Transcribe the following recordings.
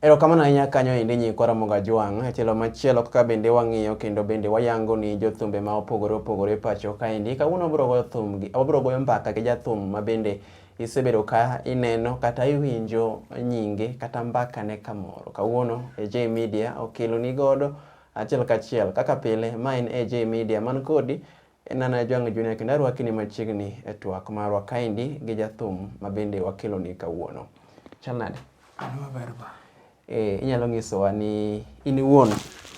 Erokamano ahinya kanyo endi nyikwa Ramoga Jwang'. E tielo machielo kaka bende wang'iyo kendo bende wayango ni jothumbe ma opogore opogore pacho kaendi. Kawuono wabiro goyo thum gi, wabiro goyo mbaka gi jathum ma bende isebedo ka ineno kata iwinjo nyinge kata mbaka ne kamoro. Kawuono AJ e Media okelo ni godo achiel kachiel kaka pile ma en AJ e Media man kodi En an Ajwang' Junior kendo arwakini machiegni e twak marwa kaendi gi jathum ma bende wakeloni kawuono. Chal nade? An maber ba. Eh, inyalo nyisowa ni in iwuon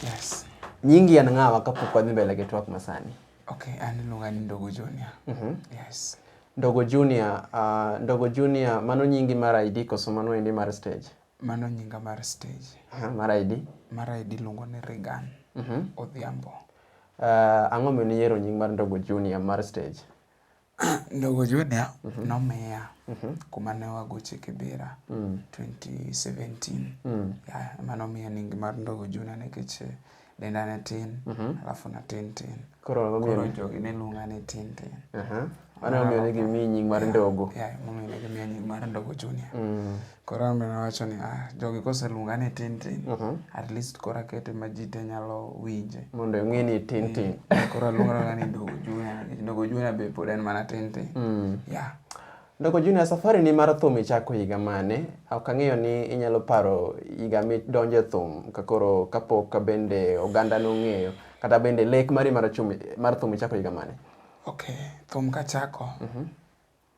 Yes. nyingi en ng'awa kapok wadhi mbele gi twak masani. Okay, an iluonga ni Ndogo Junior. Mhm. Yes. Ndogo Junior, ah, Ndogo Junior mano nyingi mar ID koso mano endi mar stage? Mano nyinga mar stage. Aha, mar ID. Mar ID iluongo ni Regan Odhiambo. Ah, ang'o momiyo niyiero nying mar Ndogo Junior mar stage? Ndogo Junior nomiya kuma ne wagoche Kibera 2017. Yeah, ema nomiya nying mar Ndogo Junior nikech eh, Denda ne tin, Mhm. alafu na tin tin. Koro ang'o Koro miyo- jogi ne luonga ni tin tin. Aha. Mano e momiyo ne gimiyi nying mar ndogo. Yeah, momiyo ne gimiya nying mar Ndogo Junior. Mm. Koro an be nawacho ni ah, jogi koseluonga ni tin tin, Mhm. at least koro akete ma ji te nyalo winje. Mondo ing'e ni tin tin. Koro aluonga ni Ndogo Junior, nikech Ndogo Junior be pod en mana tin tin. Mm. Yeah. Ndoko Junior, safari ni mar thum ichako higa mane? Ok ang'eyo ni inyalo paro higa midonjo e thum kakoro kapok bende oganda nong'eyo kata bende lek mari mar, chum, mar thum ichako higa mane? Okay, thum kachako. Mm -hmm.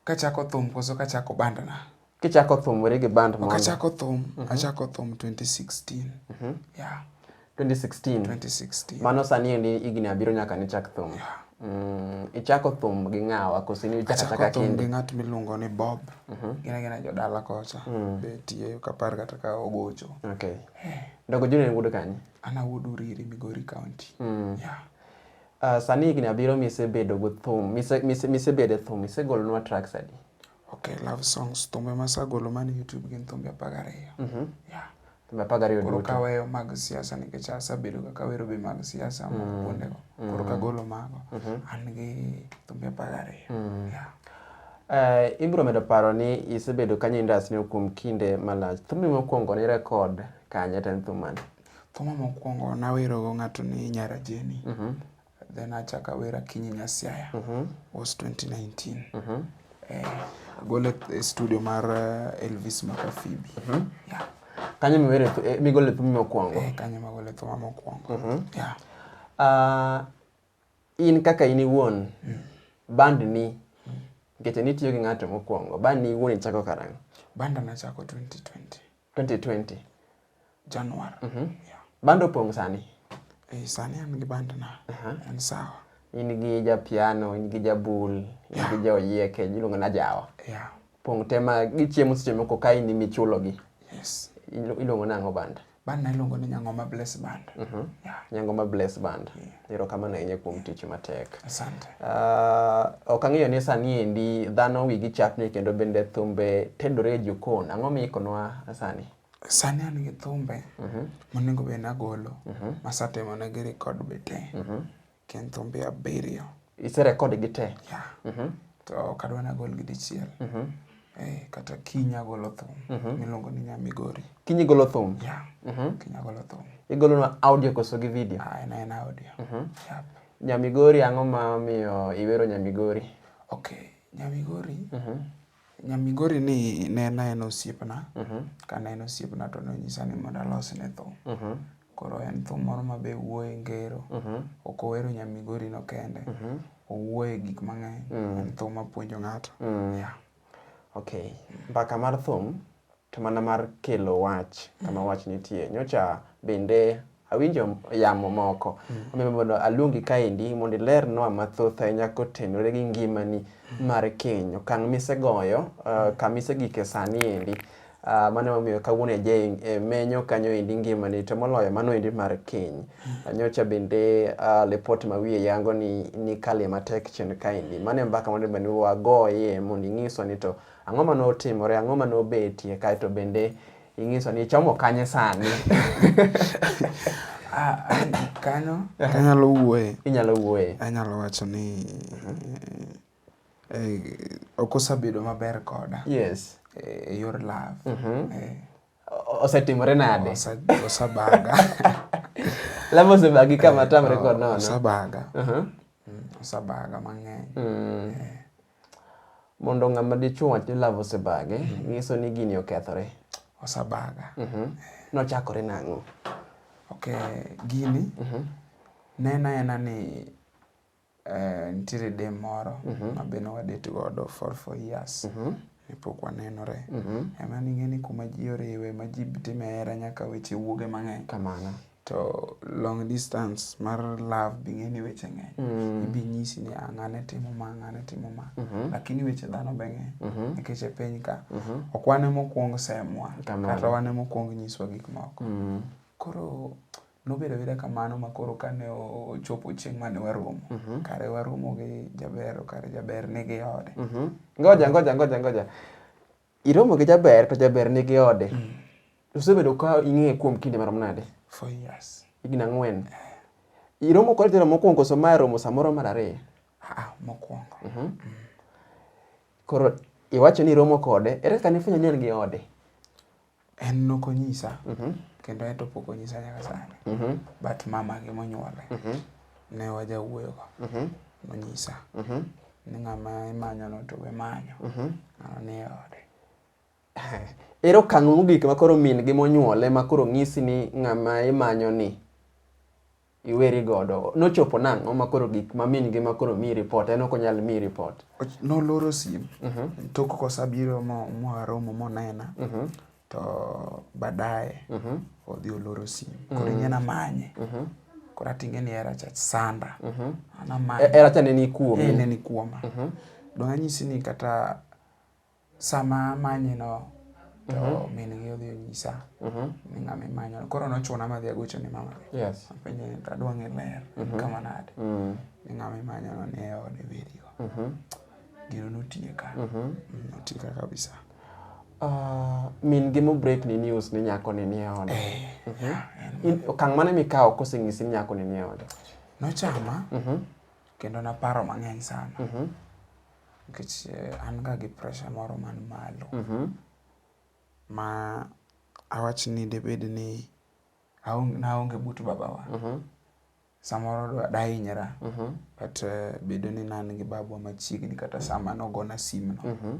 Kachako thum koso kachako bandna? Kichako thum weri gi band mondo. Kachako thum, mm -hmm. achako thum 2016. Mm -hmm. Yeah. 2016. 2016. Mano sani endi higni abiriyo nyaka nichak thum. Yeah. Mm, ichako thum gi ng'awa koso in ichako achaka kindi? Achako thum gi ng'at miluongo ni Bob. Mm -hmm. Gina gina jodala kocha. Mm. Be tiye kapar kata ka ogocho. Okay. Eh. Dogo Junior en wuod kanye? An awuod Uriri, Migori County. Mm. Yeah. Uh, sani higni abiriyo misebedo go thum, misebedo e thum, isegolonwa tracks adi? Okay, love songs. Thumbe ma sagolo man YouTube gin thumbe apar gariyo. Mm -hmm. Yeah. Thumbe apar gariyo duto. Koro kaweyo mag siasa nikech asabedo ka kawero be mag siasa mm. mag kuondego. Mm. Koro kagolo mago. Mm -hmm. An gi thumbe apar gariyo. Mm. Yeah. Uh, ibiro medo paro ni isebedo kanye industry kuom kinde malach. Thumbe mokwongo ni rekod kanye ten thumani? Thuma mokwongo nawerogo ng'ato ni Nyara Jeni. Mm -hmm. Then achak awer Akinyi Nyasiaya mm -hmm. was 2019 mm -hmm. eh, agole e studio mar eh, Elvis Makafibi mm -hmm. yeah. Kanyo miwere eh, migole thum mokwongo eh, kanyo magole thum mokwongo mm -hmm. yeah. Uh, in kaka in iwuon mm. band ni mm. nikech nitiyo gi ng'ato mokwongo band ni iwuon ichako karang'o? Band nachako 2020 2020 Januar. Mm -hmm. Yeah. Bando pong sani. Eh, sani an gi bando na. Uh -huh. En sawa. In gi ja piano, in gi ja bul, in yeah. gi ja oyieke, iluongo na jawa. Yeah. Pong tema gichiemo seche moko ka in imichulo gi. Yes. Iluongo nang'o band? Band na iluongo ni Nyang'oma Bless Band. Mm -hmm. Yeah. Nyang'oma Bless Band. Yeah. Erokamano ahinya kuom tich matek. Asante. Uh, ok ang'eyo ni sani endi dhano wigi chapni kendo bende thumbe tedore e jokon. Ang'o miikonwa sani? Sani an gi thumbe uh mhm. -huh. monego bed nagolo uh mhm. -huh. masatemo ne gi rekod be te uh mhm. -huh. kendo thumbe abiriyo. Iserekod gi te? Yeah. Uh -huh. To kadwa nagol gi dichiel. Uh -huh. Eh, kata kiny agolo thum mhm. miluongo ni nyamigori kiny igolo thum yeah. Mhm. kiny agolo thum igolona audio koso gi video ah, en en audio mhm. yep. nyamigori ang'o ma miyo iwero nyamigori ok nyamigori nyamigori ni ne en aen osiepna kane en osiepna to nonyisa ni mondo alos ne thum Koro en thum moro ma be wuoye ngero. Mhm. Ok owero nya Migori no kende. Mhm. Owuoye gik mang'eny. Mm. En thum mapuonjo ng'ato. Mm. Yeah. Okay. Mbaka mar thum to mana mar kelo wach kama mm. wach nitie. Nyocha bende awinjo yamo moko. Mm. Omiyo mondo aluongi kaendi mondo ilernwa mathoth ahinya kotenore gi ngimani mm. mar keny. Okang' misegoyo, uh, kama isegike sani endi. Uh, mano emomiyo kawuono ajing e menyo kanyo endi ngimani to moloyo mano endi mar keny mm. nyocha bende uh, ah, lipot ma wiye yango ni nikalie matek chien kaendi mano e mbaka mondo bende wagoye mondo ing'iswa ni to ang'o ma notimore ang'o ma nobetie kaeto bende ing'iso ni ichomo kanye sani ah, kanyo kanyalo wuoye inyalo wuoye anyalo wacho ni mm -hmm. Eh, ok osabedo maber koda yes eh, e yor love. Mhm. Eh, O- osetimore nade osa- osabaga. love osebagi kama tamre kod nono Osabaga. Mhm. Mm, Osabaga mang'eny. Mm. mondo ng'ama dichuo wach ni love osebage nyiso ni gini okethore Osabaga. Mhm. nochakore nang'o Okay, gini nena ena ni Eh, nitiere de moro mhm. mabe ne wadate godo for four years mhm. ne pok wanenore mhm. ema ning'e ni kuma ji oriwe ma ji time hera nyaka weche wuoge mang'eny kamano to long distance mar love bing'e ni weche ng'eny mm. ibi nyisi ni ang'ane ah, timo ma ang'ane timo ma mm-hmm. lakini weche dhano be ng'eny mm-hmm. nikech e piny ka mm-hmm. ok wane mokwong semwa kata wane mokwong nyiswa gik moko mm. koro Nobedo abeda kamano ma koro kane ochopo chieng' mane waromo, mhm. kare waromo gi Jaber, kare Jaber nigi ode. Mhm. Ngoja, ngoja, ngoja, ngoja. Iromo gi Jaber to Jaber nigi ode. Mm. Usebedo ka ing'eye kuom kinde marom nade? Four years. Higni ang'wen. Eh. Iromo kod jalo mokwongo so ma romo samoro mar ariyo? Ah, mokwongo. Mhm. Mm. Koro iwacho ni iromo kode, ere kaka nifwenyo ni en gi ode? En nok onyisa mhm. kendo en to pok onyisa nyaka sani mhm. but mama gi monyuole mhm. ne wajawuoyogo nonyisa ni ng'ama imanyono to we manyo ng'ano ni e ode ere okang' mogik ma koro min gi monyuole ma koro ng'isi ni ng'ama imanyo ni iweri godo nochopo nang'o ma koro gik ma min gi ma koro mi report en ok onyal mi report noloro sim mm -hmm. tok kosabiro mo mwaromo monena mm -hmm. to baadaye mm -hmm. odhi oloro sim koro mm -hmm. ing'ena manye mm -hmm. koro ating'e ni era cha sanda mm -hmm. anamanye e, era cha neni kuoma e, neni kuoma mm -hmm. dong' anyisi ni kata Sama amanye no to mm -hmm. min gi odhi onyisa mm -hmm. ni ng'ama imanyo koro nochuna madhi agocho ni mama yes. apenje ni tadwa ng'e ler mm -hmm. kama nade mm -hmm. ni ng'ama imanyo no ni e ode berigo mm -hmm. gino notieka mm -hmm. notieka kabisa Uh, min gi mo break ni news ni nyako ni nie ode eh, mm -hmm. yeah, in, okang' mane mikawo koseng'isi ni nyako ni nie ode nochama mm -hmm. kendo naparo mang'eny sana mm -hmm. Nikech eh, an ga gi pressure moro man malo. Mhm. Ma awach ni debed ni aonge, naonge but babawa. Mhm. Samoro dwa dahinyra. Mhm. But eh, bedo ni nan gi babwa machiegni kata sama nogona sim no. Mhm.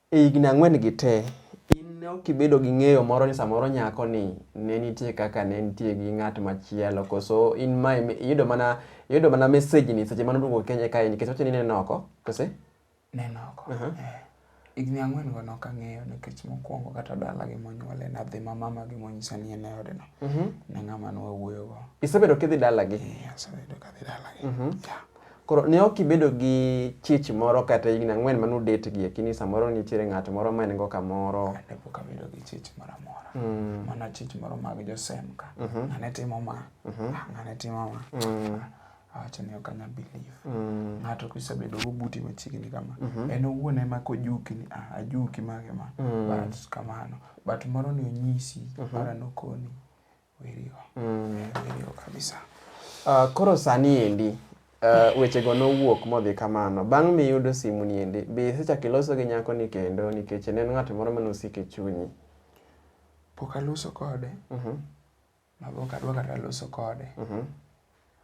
E higni ang'wen-gi te, in ne ok ibedo gi ng'eyo moro ni samoro nyakoni ne nitie kaka ne nitie gi ng'at machielo, koso in ma iyudo mana iyudo mana mesejni seche mane oduogo Kenya kae nikech wacho ni neno oko, kose? Neno oko. Uh -huh. eh. Higni ang'wen go nok ang'eyo nikech mokwongo kata dala gi monyuole nadhi ma mama gi monyisa ni en e odno. Uh mhm. -huh. Ne ng'ama nwa wuoyo go. Isebedo kidhi dala gi? Eh, asebedo kadhi dala gi. Uh mhm. -huh. yeah. Koro ne ok ibedo gi chich moro kata higni ang'wen mane udetgie kini samoro nitiere ng'at moro ma en go kamoro. Ne pok abedo gi chich moro amora. Mm. Mana chich moro mag josemka. Mm -hmm. Ng'ane timo ma. Mm -hmm. Ah, ng'ane timo ma. Mm. Awacho ni ok anya believe. Mm. Ng'ato kisebedo go buti machiegni kama. Mm -hmm. En owuon ema kojuki ni ah, ajuki mage ma. Mm. But kamano. But moro ni onyisi, mm -hmm. mara nokoni. Werigo. Mm. Werigo kabisa. Uh, koro sani endi uh, wechego nowuok modhi kamano. Bang' miyudo simu ni endi, be isechako iloso gi nyako ni kendo nikech ne en ng'at moro mane osiko e chunyi? Pok aloso kode. Mhm. Uh -huh. Mago ok adwa kata loso kode. Mhm. Uh -huh.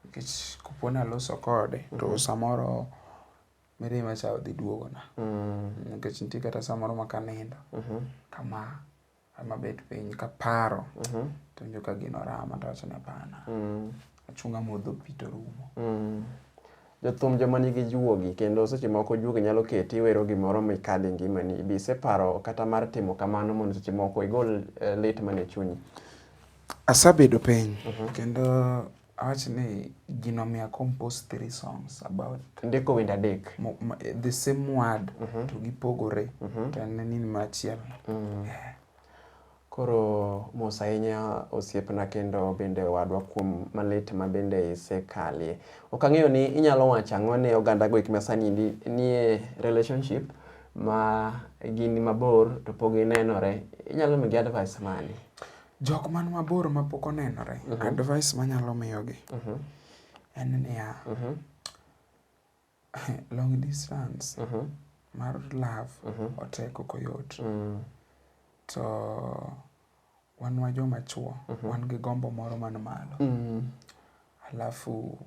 Nikech kopo ni aloso kode mm -hmm. to mhm. samoro mirima cha odhi duogona. Mm. Nikech nitie kata samoro ma kanindo. Mm -hmm. Kama Ama bet piny kaparo mhm. to njo ka gino rama to wacho ni hapana. Mm. Achunga modho pi to rumo. Mm. Jothum joma nigi juogi kendo seche moko juogi nyalo keti iwero gimoro mikadhe ngimani. Be iseparo kata mar timo kamano mondo seche moko igol eh, lit mane chunyi? Asabedo piny mhm. kendo Awach ni gino mi a compose three songs about. Ndiko wende adek. Mo, ma, the same word mm -hmm. to gipogore mm -hmm. to en nini machiel. Mm. Yeah. Koro mos ahinya osiepna kendo bende wadwa kuom malit ma bende isekalie. Ok ang'eyo ni inyalo wacho ang'o ne oganda go ma sani nie relationship ma gin mabor to pok ginenore. Inyalo migi advice mane? Jok man mabor ma pok onenore, uh mhm. -huh. advice manyalo miyogi uh mhm. -huh. en niya, uh mhm. -huh. long distance uh -huh. mar love uh -huh. otek ok oyot. Uh mm. -huh. To wan wa joma chuo, uh -huh. wan gi gombo moro man malo. Uh mm. -huh. Alafu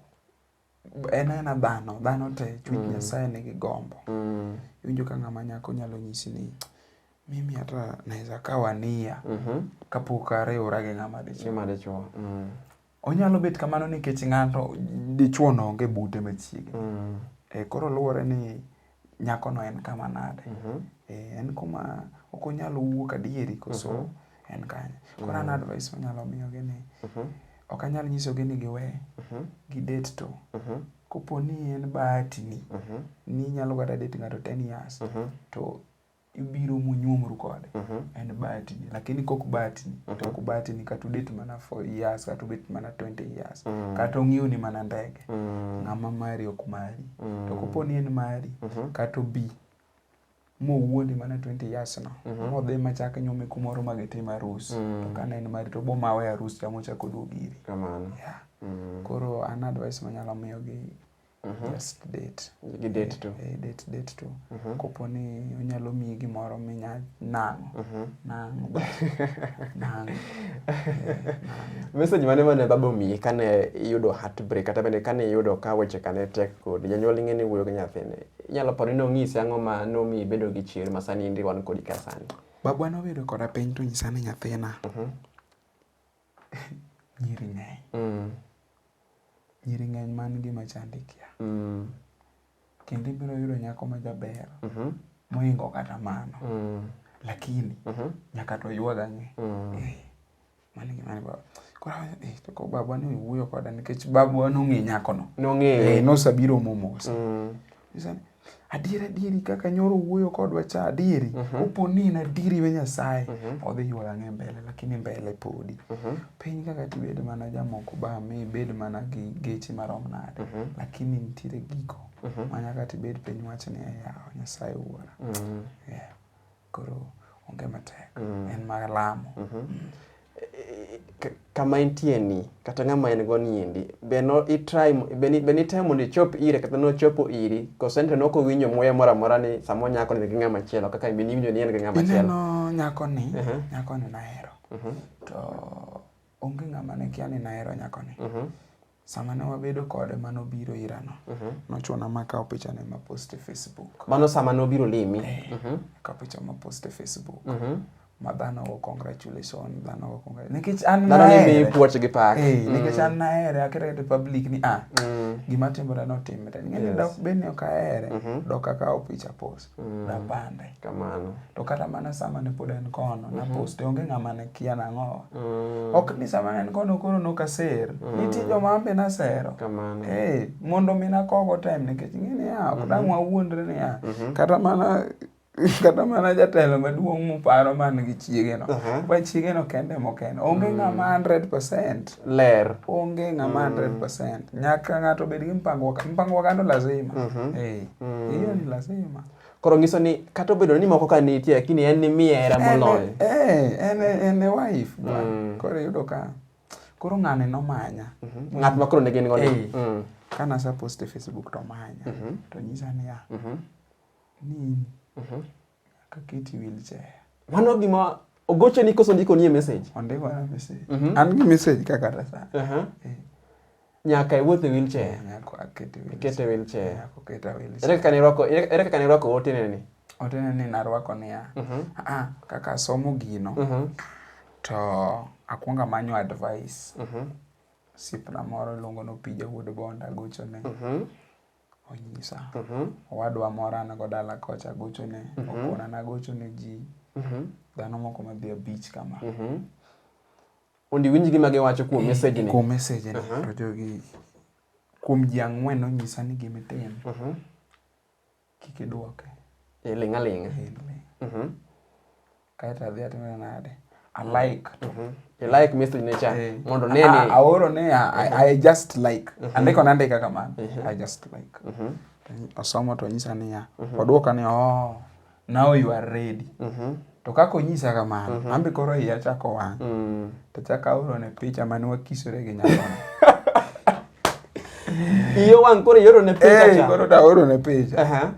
en aena dhano dhano te chuny mm. nyasaye nigi gombo mm. iwinjo ka ng'ama nyako nyalo nyisi ni mimi hata naweza kawa nia mm -hmm. kapok ariwora gi ng'ama dichuo mm. onyalo bet kamano nikech ng'ato dichuo no onge bute machiegni mm. e, koro luwore ni nyakono en kama nade mhm. eh, en kuma ok onyal wuok adieri koso mhm. en kanye koro an mhm. advice manyalo miyogi ni ok anyal nyisogi ni giwe gi date to kopo ni en bahatini ni inyalo kata date ng'ato ten years to ibiro munyuomru kode uh mhm. -huh. en batini lakini kok batini uh mhm. -huh. tok batini kata udet mana for years kata ubet mana 20 years uh mhm. -huh. kata ong'iew ni mana ndege uh -huh. ng'ama mari ok mari uh -huh. to kopo ni en mari uh -huh. kata obi mowuondi mana 20 years no uh -huh. modhi machak nyume kumoro ma gitim arus uh -huh. to kane en mari to bo mawe arus chamo chako duogi iri kamano yeah. uh -huh. koro an advice manyalo miyogi Mm -hmm. Just date. Gi date to. E, date date to. Mm -hmm. Kopo ni onyalo miyi gimoro minya nang'. Mm -hmm. Nang'. nang'. Message mane mane baba omiyi kane iyudo heartbreak kata bende kane iyudo ka weche kane tek kod janyuol ing'e ni wuoyo gi nyathine. Inyalo paro ni nong'isi ang'o ma nomiyi bedo gi chir ma sani indi wan kodi ka sani. Babwa nobedo koda piny to nyisa ni nyathina. Mm -hmm. Nyiri ng'eny. Mm. Nyiri ng'eny man gima chandi kia. Mm. Kendo ibiro yudo nyako ma jaber. Mm -hmm. Moingo kata mano. Mm. Lakini. Mm -hmm. Nyaka to yuwa gang'e. Mm. Eh. Mani gima ni baba. Kora eh to ko baba ni wuyo koda nikech baba no ng'e nyako no. No ng'e. Eh, no sabiro momos. Mm. Isani. adier adieri kaka nyoro wuoyo kodwa cha adieri uh mhm. -huh. opo ni en adieri we nyasaye uh mhm. -huh. odhi yuola ng'e mbele lakini mbele podi uh mhm. -huh. piny kaka tibed mana jamoko ba mi bed mana gi geche marom nade uh -huh. lakini nitiere giko uh -huh. manyaka tibed piny wach ni yawa nyasaye wuora uh -huh. yeah. koro onge matek mm. en mar lamo mm -hmm. mm. kama intie ni kata ng'ama en go niendi be no itry be nitemo mondo ichop ire kata nochopo iri kosente noko winjo muya moro amora ni sama nyako ni gi ng'ama chielo kaka be niwinjo ni en gi ng'ama chielo ineno nyako ni uh -huh. nyako ni nahero uh mhm. -huh. to onge ng'ama ne kia ni nahero nyako ni uh mhm. -huh. Sama ne wabedo kode mano biro ira no. Uh mhm. -huh. Nochuna ma kawo picha ne ma post e Facebook. Mano sama ne obiro limi. Eh, uh mhm. -huh. Ka picha ma post e Facebook. Uh mhm. -huh. Ma dhano go congratulation, dhano go congratulation. Nikech an na dhano ni puoch gi pak. Eh, mm. nikech an na ere akere to public ni ah. Mm. Gima timore no timre. Ng'e yes. dok bende ok ahere. Mm -hmm. Dok akawo picha post. mm. rapande kamano to kata mana sama ne pod en kono mm -hmm. naposte onge ng'ama ne kia nang'owa mm. ok ni sama ne en kono koro nokaser mm. nitie joma ambe nasero kamano hey, eh, mondo mi nakogo time nikech ng'e niya ok mm -hmm. dang' wawuondre niya mm -hmm. kata mana kata mana jatelo maduong' muparo man gi chiegeno uh -huh. chiegeno kende mokende onge mm. ng'ama 100 percent ler onge ng'ama 100% mm. nyaka ng'ato bed gi mpango mpango oganda lazima mm-hmm. eh, mm. hiyo ni lazima koro ngiso ni kata obedo ni moko ka nitie lakini en ni miye hera moloyo eh, en en e wife mm. koro yudo ka koro ng'ane nomanya mm-hmm. ng'at ma koro ne gin godo eh, ka nasapost e facebook to manya mm-hmm. to nyisa niya ni Nyaka keti wheelchair. Mano gima ogoche ni koso ndiko nie message. Ondiko na message. Mm -hmm. An gi message ka kata sana. Uh -huh. eh. Nyaka iwuoth e wheelchair. Eh, nyaka akete wheelchair. Ikete wheelchair. Nyaka oketa wheelchair. Ere kaka nirwako ere kaka nirwako otene ni? Otene ni narwako niya. Uh -huh. Ah, ah, kaka asomo gino. Uh mhm. -huh. To akwonga manyo advice. Uh mhm. -huh. Sipna moro iluongo ni Opija Wuod Bonda gochone. Uh mhm. -huh. onyisa mhm. owadwa moro an go dala kocha agochone mhm. okona nagochone ji mhm. dhano moko madhi abich kama mondo iwinj gima giwacho kuom mesejni kuom mesejni to jogi kuom ji ang'wen onyisa ni gimitim kik idwoke iling' aling'a Kaeto adhi atime nade? I like. Mm -hmm. I like me signature. Hey. Eh. Mondo nene. Ah, ah, aoro ne, I, ah, mm-hmm. I just like. Mm -hmm. Andiko na andika kamano. Mm -hmm. I just like. Mm -hmm. Osomo to nyisa niya. Mm -hmm. Oduoka ni, oh, now you are ready. Mm -hmm. To kaka onyisa kamano, mm -hmm. ambe koro iya chako wang'. Mm -hmm. To chako aoro ne picha mane wakisore gi nyakono. Iyo wang' koro ioro ne picha hey, eh, cha. Koro da aoro ne picha. Uh -huh.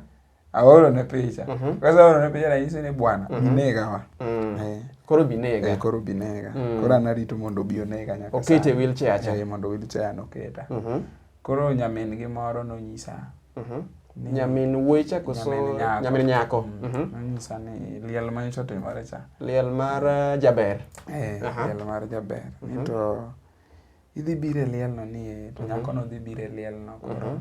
aoro ne picha Mhm. kose aoro ne picha nanyise ni bwana Mhm. binega wa Mm. Eh, Koro eh, binega. koro binega Mm. koro anarito mondo obi onega nyaka Okete sani. wheelchair cha. Eh, mondo wheelchair noketa Mhm. koro nyamin gi moro nonyisa Mhm. ni- Nyamin wuoyi cha koso nyamin nyako. nyamin nyako. Mm. Mhm. nonyisa ni liel ma nyocha otimore cha Liel mar uh, jaber. Eh, Aha. liel mar jaber Mhm. ni to Idhi biro e lielno ni e, to mhm. nyakono dhi biro e lielno koro. Mhm.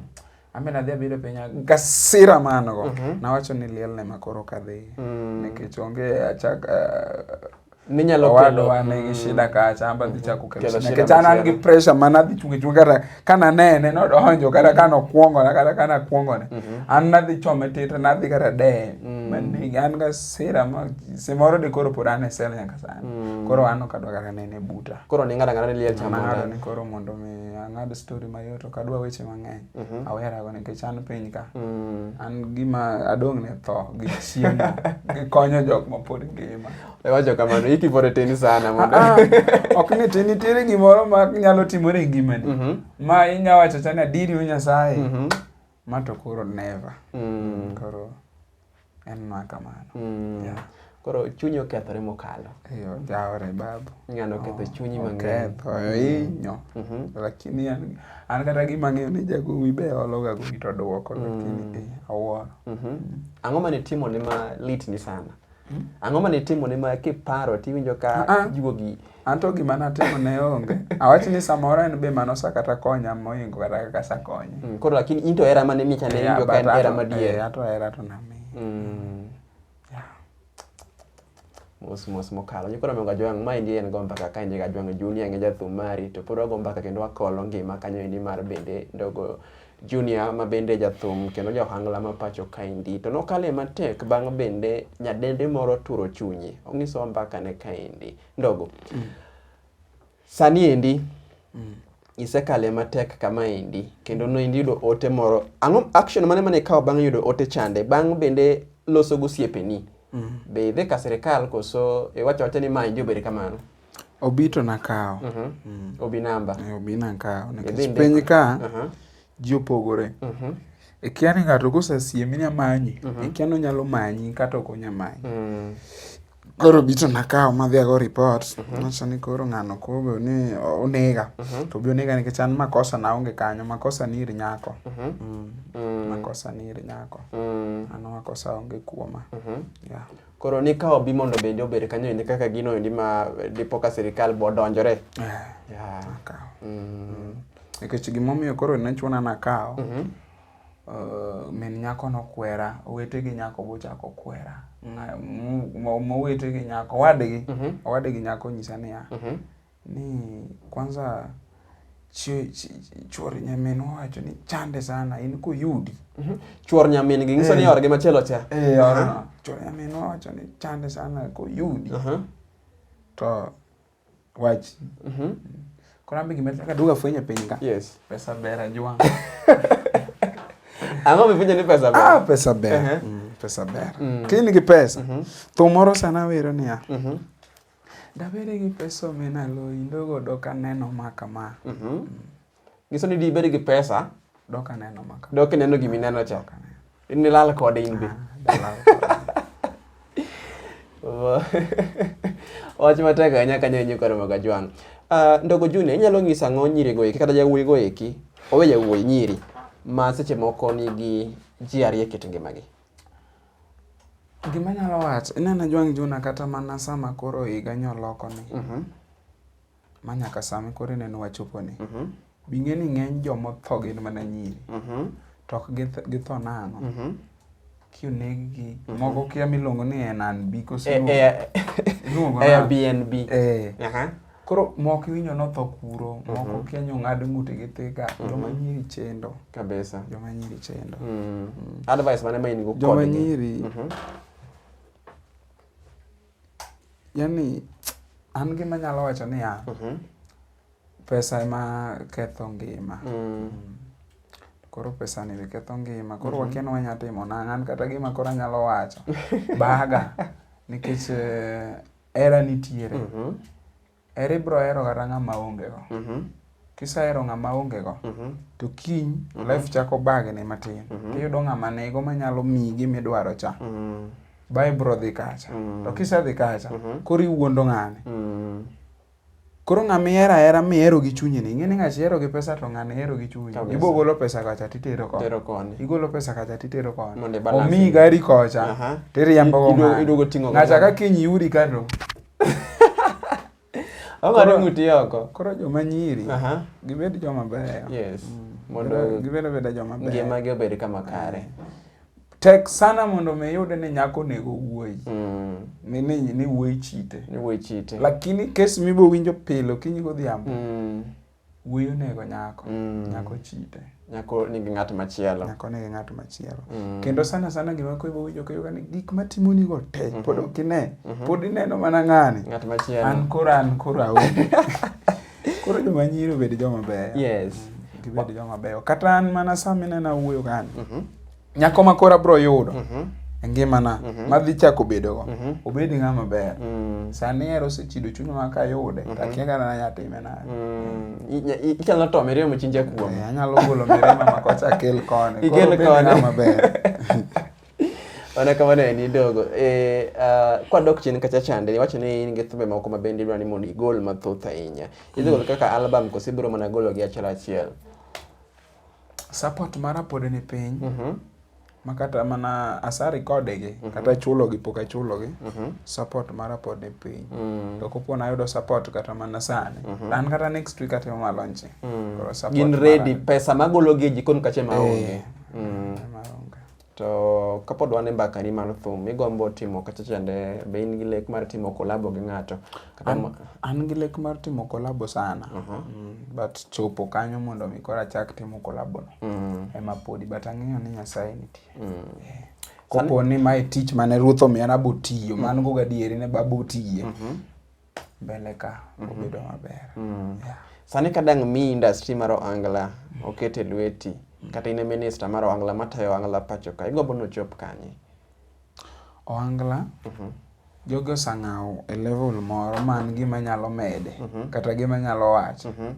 Ambe nadhi abiro piny gasira man go. Mhm. Nawacho ni lielne ma koro kadhi. Mm. Nikech onge achak eh, ninyalo kelo wane gi shida kacha amba dhi chako kelo shida nikech an an gi pressure mana dhi chunge chunge kata kana nene no donjo kata kana okuongo na kata kana kuongo ne mhm. an na dhi chome tete na dhi kata de mm. mani an ga sira ma simoro de koro pod an e sel nyaka sani mm. koro an ok adwa kata nene buta Koro ni ng'ada ng'ada ni liel chama ng'ada ni koro mondo mi ang'ad story mayot ok adwa weche mang'eny. Mm -hmm. Awera go nikech an piny ka. Mm. An gima adong' ne tho gi chiemo gi konyo jok ma pod ngima. Iwacho kamano iki pore teni sana mondo. Ah, ah. ok ni tini tiri gimoro ma nyalo timore e ngimani. Mm -hmm. Ma inya wacho chana diri Nyasaye. Mm -hmm. Ma to koro never. Mm. Koro en ma kamano. Mm. Yeah. Koro chunyi okethore mokalo. Eyo, jaore babu. Ng'ano oketho oh, chunyi mang'eny. Oketho, mm. inyo. Mm -hmm. Lakini an, an kata gima ng'eyo ni jagowi be ologa gowi to duoko, mm. lakini eh, awuoro. Mm-hmm. Mm -hmm. Ang'o mane timone ma lit ni sana? Hmm? Ang'o mane itimo ne ma kiparo tiwinjo ka ah, ah. juogi? An to gima natimo ne onge. Awach ni samoro en be mano sa kata konya moingo kata kaka sa konya. Hmm, koro lakini into era mane micha ne injo ka en era madier. Eh, ato era to nami. Hmm. Mos mos mokalo. Nyikoro mionga jwang' ma endi en gomba kaka endi ga jwang' junior ngeja thumari to pod wagomba kendo wakolo ngima kanyo endi mar bende ndogo Junior ma bende jathum kendo ja ohangla ma pacho kaendi to nokale matek bang' bende nyadendi moro turo chunye. Onyisowa mbakane kaendi. Ndogo, mm. sani endi mm. isekale matek kama endi kendo noendi yudo ote moro. Ang'o action mane mane ikawo bang' yudo ote chande? Bang' bende loso gosiepeni. Mm. Be idhi ka sirikal koso iwacho wacho ni ma injo bed kamano? Obi to nakawo. Uh -huh. mm. Obi namba. Eh, obi nakawo. Nikech piny ka uh -huh. ji opogore. Uh mhm. -huh. Ikia ni ng'ato kosesiemi ni amanyi, uh mhm. -huh. ikia ni onyalo manyi kata ok onya manyi. Uh mm. -huh. Koro obi to nakawo madhi ago report. Uh mhm. -huh. Nacho ni koro ng'ano kobe ni onega. Uh -huh. To obi onega nikech an makosa na onge kanyo. Makosa ni iri nyako. Uh -huh. mm. Mm. Makosa ni iri nyako. Mm. Ano makosa onge kuoma. Uh -huh. yeah. Koro ni ka obi mondo bende obed kanyo endi kaka gino endi ma dipo ka sirikal bo donjore. Eh, yeah. Akaw. Mm. Nikech gimomiyo koro ne chuna nakawo, mm -hmm. uh, eh, min nyako nokwera, owete gi nyako bochako kwera. Mowete gi nyako, owadgi, mm -hmm. owadgi nyako nyisa niya, mm -hmm. Ni kwanza chuor nyamin wacho ni chande sana in kuyudi mm -hmm. chuor nyamin gi nyiso ni eh. orgi machielo cha eh, uh -huh. chuor nyamin wacho ni chande sana kuyudi uh -huh. to wach mm -hmm. korambe gima taka duga fwenye piny ka yes pesa ber ajwang ang'o mifuenyo ni pesa ber ah pesa ber uh -huh. mm, pesa ber mm. kini gi pesa mm -hmm. thum moro sana wero niya mm -hmm. Dabed gi pesa omena loyi ndogo dok aneno ma kama. Mhm. Nyiso ni dibed gi pesa Dok aneno ma kama. dok ineno gima ineno cha. Nilal kode in be. Dalal Wach matek ahinya kanyo inyo koro moga jwang'. Ah, Ndogo Junior, inyalo ng'isa ang'o nyirigo eki kata jawuoyigo eki, owe jawuoyi nyiri ma seche moko nigi ji ariyo e kit ngimagi? Gima anyalo wacho, ineno ajwang' juna kata mana sama koro higa nyo lokoni, mhm. ma nyaka sami koro ineno wachoponi, mhm. bing'e ni ng'eny joma otho gin mana nyiri, mhm. to ok githo nang'o? Kioneggi, moko kia miluongo ni NNB, kose eh, eh, Airbnb. Eh. Koro mok iwinjo notho kuro, moko mm -hmm. kienyo ng'ad ng'ute gi thika, mm -hmm. joma nyiri chendo. Kabisa. Joma nyiri chendo. Mm. Mm. Advice mane ma in go Joma nyiri. Mm -hmm. Yani an gima nyalo wacho ni ya. Mm -hmm. Pesa ema ketho ngima. Mm. Mm. Koro pesa ni ketho ngima. Koro mm -hmm. wakeno wanya timo nang'an kata gima koro anyalo wacho. Baga. Nikech eh, Hera nitiere. Mm -hmm. Hera ibro hero kata ng'ama ongego. Mm -hmm. Kisahero ng'ama ongego, mm -hmm. to kiny mm -hmm. life chako bagni matin. Mm -hmm. Tiyudo ng'ama nego manyalo miyi gima idwaro cha. Mm -hmm. Ba ibro dhi kacha. Mm -hmm. To kisedhi kacha, mm -hmm. koro iwuondo ng'ani. Mm -hmm. Koro ng'ama ihero ahera mihero gi chunyi ni, ing'eni ng'achi ihero gi pesa to ng'ani ihero gi chunyi. Kabisa. Ibo golo pesa kacha titero koni. Tero koni. Igolo pesa kacha titero koni. Mondo ibalance. Omiyi gari kocha. Aha. Tiriembo go Idu- ng'ani. iduogo ting'o go Ng'acha ng'ani. ka kiny yudi ka to. Ong'ado Koro- ng'uti oko. Koro joma nyiri Aha. gibed joma beyo. Yes. Mondo Mondo gibed beda joma beyo. ngimagi obed kama kare. tek sana mondo mi yude ni nyako nego wuoyi mm. ni ni ni wuoyi chite ni wuoyi chite lakini kes mibo winjo pile okinyi godhiambo mm. wuoyi onego nyako mm. nyako chite nyako nigi ng'at machielo nyako nigi ng'at machielo mm. kendo sana sana gima koibo winjo koyoga ni gik matimo ni go te mm -hmm. pod okine mm -hmm. pod ineno mana ng'ani ng'at machielo an koro an koro aonge Koro joma nyiri obed joma beyo. Yes. Mm, gibed joma beyo. Kata an mana sa minena wuoyo kani. Mhm. Nyako ma koro abro yudo. Mhm. E ngimana mhm. madhi chako bedogo obed ng'ama ber mm. sani ero osechido chunywa ka yude to akia kata nanya time nade mm. inyalo to miremo chinja kuome eh, anyalo golo mirema makocha kel koni ikel koni ng'ama ber Mana kamano en idogo. Eh, uh, kwa dok chien kacha chande, iwacho ni in gi thumbe moko ma bende idwa ni mondo igol mathoth ahinya. Idhi golo kaka album koso ibiro mana golo gi achiel achiel. Support mara pod ni piny. Mhm. Ma kata mana asa recorde gi, kata chulo gi pok achulo gi. Mhm. Support mara pod ni piny. Mm. To kopo nayudo support kata mana sani. An kata next week atimo ma launch. Mm. Koro support Gin mara ready ni- pesa magolo gi e jikon kacha ma onge. Eh. Mm. Mara onge. To kapod wan e mbakani mar thum, igombo timo kacha chande, be in gi lek mar timo kolabo gi ng'ato? Kata an, an gi lek mar timo kolabo sana uh -huh. mm, but chopo kanyo mondo mi koro achak timo kolabono mm. Mm-hmm. ema podi but ang'eyo ni nyasaye nitie mm. yeah. kopo ni mae tich mane ruoth omiya nabotiyo mm. man go gadieri ne babotiye mm -hmm. mbele ka mhm. obedo maber. Mm. Yeah. Sani ka dang' mi industry mar Ohangla oket e lweti mm. kata in e minister mar Ohangla matayo Ohangla pacho ka, igombo ni ochop kanye? Ohangla mm -hmm. jogi osang'awo e level moro man gima nyalo mede mm -hmm. kata gima nyalo wacho mm -hmm.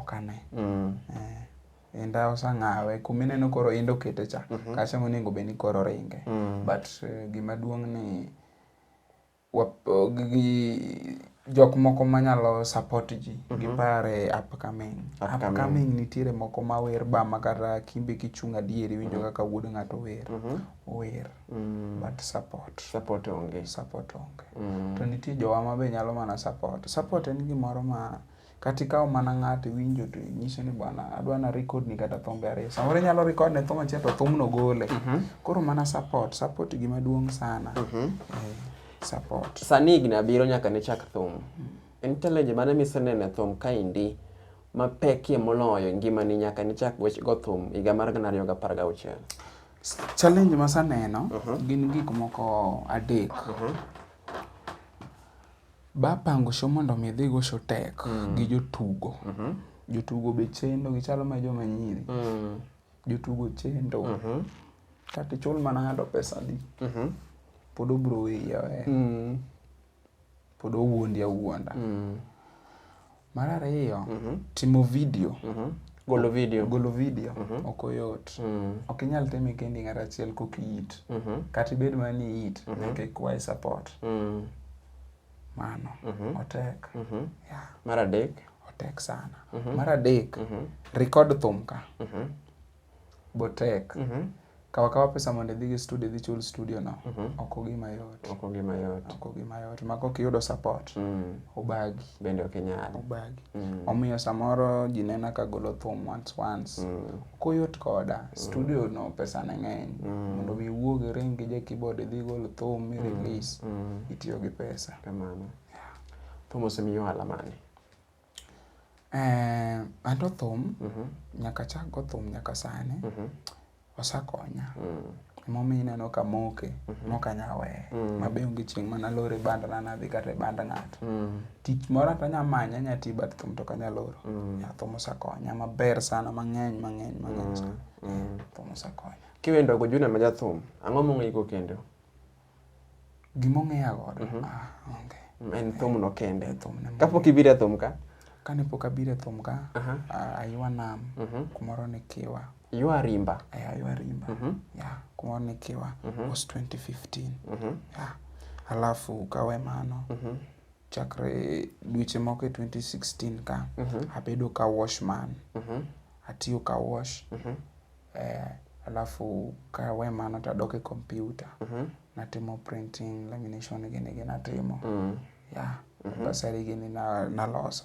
ok ane. Mm. Eh. Inda osang'awe kuma ineno koro inda okete cha mm -hmm. kacha monego bed ni koro ringe mm. but uh, gima duong' ni gi jok moko manyalo support ji mm -hmm. gipar e upcoming. upcoming. upcoming nitiere moko mawer ba ma kata kimbe kichung' adier iwinjo mhm. kaka mm -hmm. wuod ng'ato wer mm -hmm. wer mm -hmm. but support support onge support onge mm -hmm. to nitie jowa ma be nyalo mana support support en gimoro ma Kata ikawo mana ng'ato iwinjo to inyiso ni bwana adwa na record ni kata thumbe ariyo. Samoro inyalo record ne thum achiel to thumno gole. Mhm. Koro mana support, support gima duong' sana. Mhm. Eh, support. Sani higni abiriyo nyaka ne chak thum. Mm. En challenge mane miseneno e thum kaendi mapekie moloyo ngimani nyaka ne chak wech go thum higa mar gana ariyo gi apar gauchiel? Challenge masaneno mhm. gin gik moko adek. Ba pango show mondo mi dhi go show tek mm. gi jotugo. Mm -hmm. Jotugo be chendo gichalo ma joma nyiri. Mm. Jotugo chendo. Mm -hmm. Kata ichul mana ng'ato pesa di. Mm -hmm. Pod obro wiye. Mm. Pod owuondi awuonda. Mm. Mar ariyo, timo vidio. Golo vidio. Golo vidio ok oyot. Ok inyal time kendi ng'ato achiel kok iit. Kata ibed mana ni iit, nyaka ikwaye support. Mano otek. Yeah. Mar adek. Otek sana. Mar adek, record thum ka. botek mm -hmm. kawa kawa pesa mondo idhi gi studio idhi chul studio no mm -hmm. ok ogima yot ok ogima yot ok ogima yot maka ok iyudo support mm. obagi bende ok inyal obagi mm. omiyo samoro ji nena ka golo thum once once mm. koyot koda mm. studio no pesa ne ng'eny mm. mondo mi wuog ring gi je keyboard idhi gol thum mi mm. release mm. itiyo gi pesa kamano yeah. thum osemiyo ohala mane Eh, an to thum nyaka achak go thum nyaka sani osakonya. Emomiyo ineno kamoke mok anya weye. Ma be onge chieng' mana loro e banda na nadhi kata e band ng'ato. Tich moro to anya manye anya tiyo but thum to ok anya loro. Yeah, thum osekonya maber sana mang'eny mang'eny mang'eny sana. Thum osekonya. Kiwendo go Junior ma jathum, ang'o mong'e go kendo? Gima ong'eya godo. Mhm. Ah, onge. En thumno kende. En thumne moro. Kapok ibiro e thum ka, Kane pok abiro e thum ka, Aha. ah, aywa nam Mhm. kumoro ni Kiwa. ywa rimba. Eh, aywa rimba. Mhm. Yeah, kumoro ni Kiwa. Mhm. Was 2015. Mhm. Yeah. Alafu kawe mano. Mhm. Chakre dweche moko e 2016 ka, Mhm. abedo ka washman. Mhm. Atiyo ka wash. Mhm. Eh, alafu ka we mano to adok e kompyuta. Natimo printing, lamination gini gi natimo. Yeah, bursary gini na- naloso.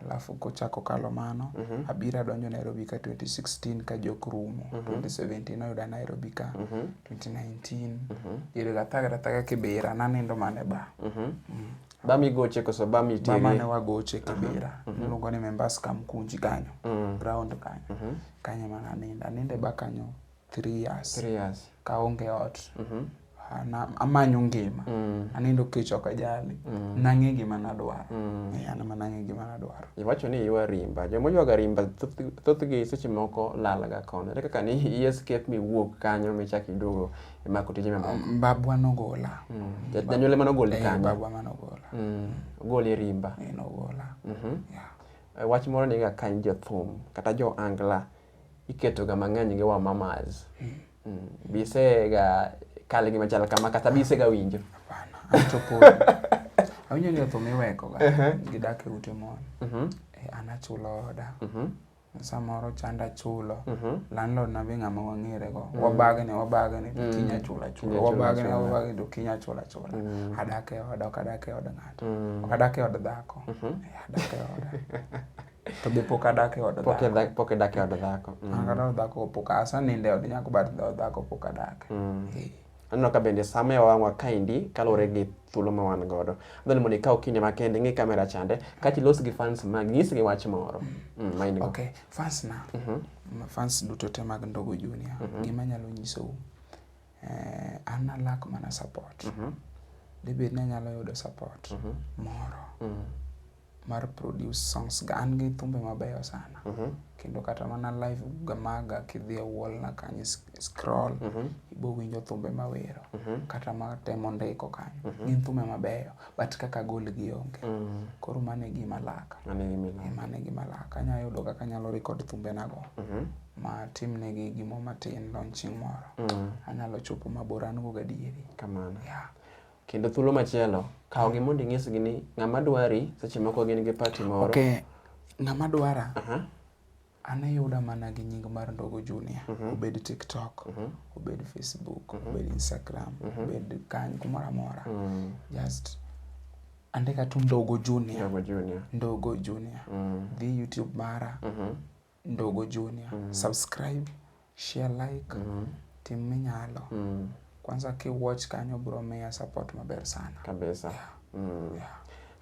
Alafu kochako kalo mano, abiro adonjo Nairobi ka 2016 ka jok rumo. 2017 oyuda Nairobi ka. 2019, diere ga thaga thaga Kibera, nanindo mana e bar. Ba migoche koso ba miterie? Ba mane wagoche Kibira. Uh -huh. Niluongo ni Membas Kamkunji kanyo. Uh mm. -huh. Ground kanyo. Uh mm-hmm. -huh. Kanyo mana ninda. Ninde ba kanyo 3 years. 3 years. Kaonge ot. Uh mm-hmm. -huh na amanyo ngima mm. anindo kech ok ajali mm. nang'e gima nadwaro mm. e, an ma nang'e gima nadwaro iwacho ni iwa rimba joma oywaga rimba thothgi seche moko lalga kono ere kaka ni i escape miwuok kanyo michak iduogo imako tije mamoko mm, babwa nogola mm. janyuol ema nogoli eh, kanyo babwa ma nogola mm. ogoli e rimba eh, nogola mhm. eh, wach moro ni ga kany jothum kata jo angla iketoga mang'eny gi wa mamas bisega kal gi machal kama kata bisega winjo awinjo ni othum iwekoga gidak e ute mon mhm. an achulo oda mhm. samoro chanda chulo mm -hmm. landlord na be ng'ama wang'ere go mm. wabagne wabagne to mm. kinya chula chula wabagne wabagne to kinya chula chula mm. adak e oda ok adak e od ng'ato mm. ok adak e od dhako mm -hmm. adak e oda to be pok adak e od dhako pok adak e od dhako mm. kata od dhako pok asanindo e od nyako but od dhako pok adak mm. yeah. Aneno ka bende sama e wang'wa kaendi kaluwore gi thuolo ma wan godo. Adwani mondo ikaw kinde makende ing'i kamera chande kaeto ilos gi fans mag nyisgi wach moro. Mm, ma in go. Okay, fans na. Ma Fans duto te mag Ndogo Junior. Gima anyalo nyisou. Eh, an alak mana support. Debed ni anyalo yudo support moro. mar produce songs ga an gi thumbe mabeyo sana mm -hmm. kendo kata mana live ga maga kidhi e wall na kanyo scroll mm -hmm. ibo winjo thumbe mawero mm -hmm. kata matemo ndiko kanyo mm -hmm. gin thumbe mabeyo but kaka gol gi onge mm -hmm. koro mane gima laka mane gima laka anya yudo kaka nyalo record thumbe nago mm -hmm. ma tim ne gi gimo matin launching moro mm -hmm. anyalo chopo mabor an go gadieri kamano yeah. Kendo thuolo machielo, kawgi mondo inyisgi ni ng'ama dwari seche moko gin gi pati moro. Okay. Ng'ama dwara, uh -huh. an ayuda mana gi nying mar Ndogo Junior. Uh mhm. -huh. Obed TikTok, uh mhm. -huh. obed Facebook, uh mhm. -huh. obed Instagram, uh -huh. obed kany kumoro amora. Uh -huh. Just andika tu Ndogo Junior. Ndogo Junior. Ndogo Junior. Uh -huh. Dhi YouTube mara. Uh -huh. Ndugu Junior. Mm. Subscribe, share, like. Mm. Tim minyalo. Mm. Kwanza ki watch kanyo bro miya support maber sana. Kabisa. Yeah. Mm. Yeah.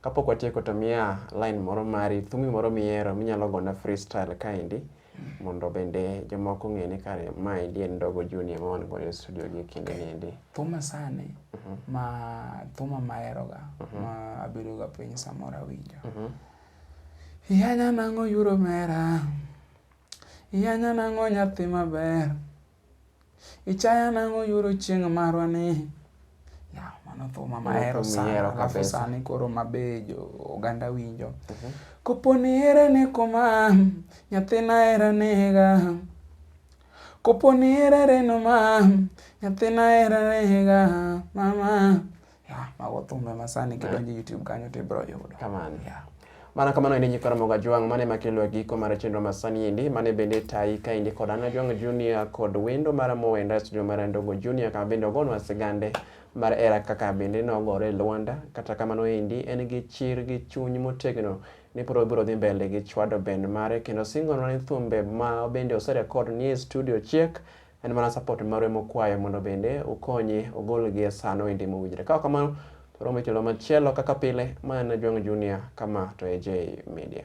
Kapok watieko to miya line moro mari, thumi moro mihero minyalo gona freestyle kaendi mm. mondo bende jomoko ng'e ni kare ma endi en Ndogo Junior ma wan godo e studio gi kinde okay. niendi. Thuma sani mm -hmm. ma thuma maheroga mm -hmm. ma abedoga piny samoro awinjo. Mm -hmm. Iyanya nang'o oyudo omera. Iyanya nang'o nyathi maber. Ichaya nang'o oyudo chieng' marwa ni. Ya, mano thuma mahero sana. Alafu sani koro mabe jo oganda winjo. Mhm. Kopo ni ere ni kuma nyathina era nega. Kopo ni ere reno ma nyathina era nega. Mama Yeah, mago thumbe masani kidonjo YouTube kanyo to ibiro yudo. Kamano. Yeah. Mana kamano endi nyikwa Ramogi Ajwang' mane makelo e giko mar chenro masani endi mane bende tayi ka endi kod Ann Ajwang' Junior kod wendo mar Mowe Ndaya studio mar Ndongo Junior kama bende ogonwa sigande mar era kaka bende nogore e Luanda. Kata kamano endi en gi chir gi chuny motegno ni pod obiro dhi mbele gi chwado band mare kendo singonwa ni thumbe ma bende oserekod ni e studio chiek En mana support maru ema okwayo mondo bende ukonye ogol gi e sano endi mowinjre. Ka ok kamano to waromo e tielo machielo kaka pile. Ma en Ajwang' Junior, kama to AJ Media.